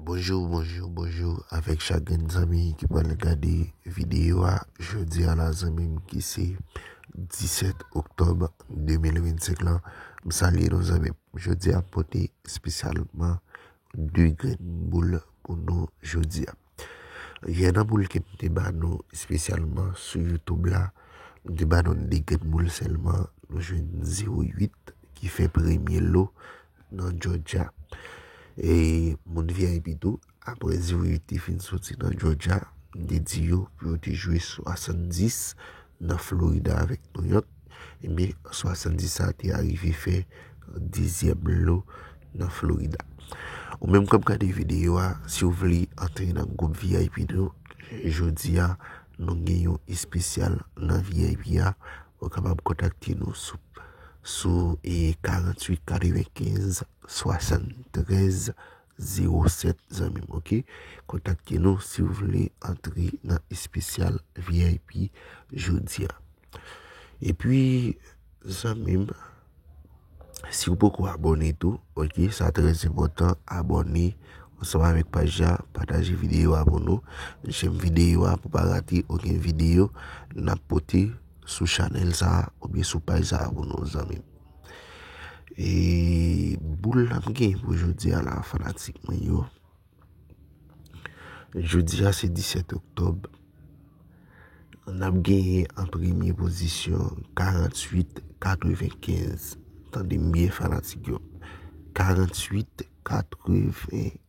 Bonjour bonjour bonjour avèk chak grenn zanmi ki pral gade video a jodia la zanmim ki se 17 oktòb 2025 lan m salye nou zanmim jodia m pote espesyalman 2 grenn boul pou nou jodia Gen nan boul kem te ba nou espesyalman sou youtube la, m te ba nou 2 grenn boul sèlman, nou jwenn 0 8 ki fè premye lo nan Georgia. E moun vip tou, aprè 0 8 te fin soti nan Georgia, m te di yo pou yo te jwe 70 nan Florida avèk New York. Ebyen, 70 sa te arive fè dezyèm lo nan Florida. Ou menm kap gade videyo a, si ou vle antre nan gwoup VIP nou, jodi a, nou gen yon espesyal nan VIP a, ou kapab kontakte nou sou 48 95 73. 07 zanmim ok kontakte nou siw vle antre nan espesyal vip jodia epi zanmim siw poko abone tou ok sa trè enpotan abone ansanm avèk paj la pataje videyo a pou nou jèm videyo a pou pa rate okenn videyo nap pote sou chanèl sa oubyen sou paj sa pou nou zanmim. E boul la m gen pou jodi a la fanatik mwen yo. Jodi a se 17 oktob. An ap genyen an premye pozisyon 48-95. Tande m byen fanatik yo. 48-95.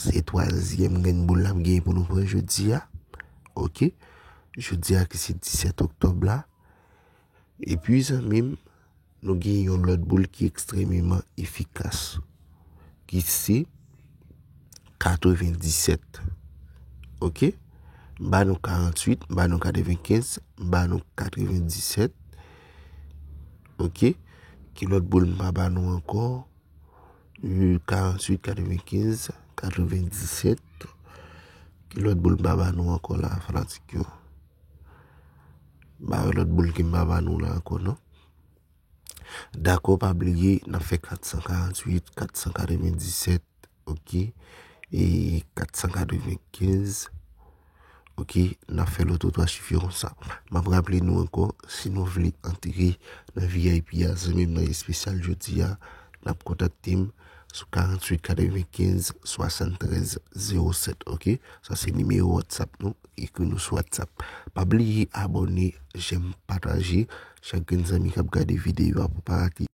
Se twazyèm grenn boul la m genyen pou nou pran jodi a. Ok. Jodi a ki se 17 oktòb la. E pi zanmi m, nou gen yon lòt boul ki ekstrememan efikas. Ki se 97. Ok. M ba nou 48, m ba nou 95, m ba nou 97. Ok. Ki lòt boul m pa ba nou ankò. 48 95 97 Ki lòt boul m pa ba nou ankò la a fanatik yo M pa wè lòt boul ke m pa ba nou la a ankò non Dakò pa bliye n ap fè 448 497 ok e 495 Ok, n ap fè lòt ou twa sifi kon sa. M ap raple nou ankò, si nou vle antre nan vip a, zanmi m nan espesyal jodi a, n ap kontakte m sou 48 95 73 07, ok? Sa se nimewo WhatsApp nou, ekri nou sou WhatsApp. Pa bliye abòne, jèm, pataje, chak grenn zanmi k ap gade videyo a pou pa rate.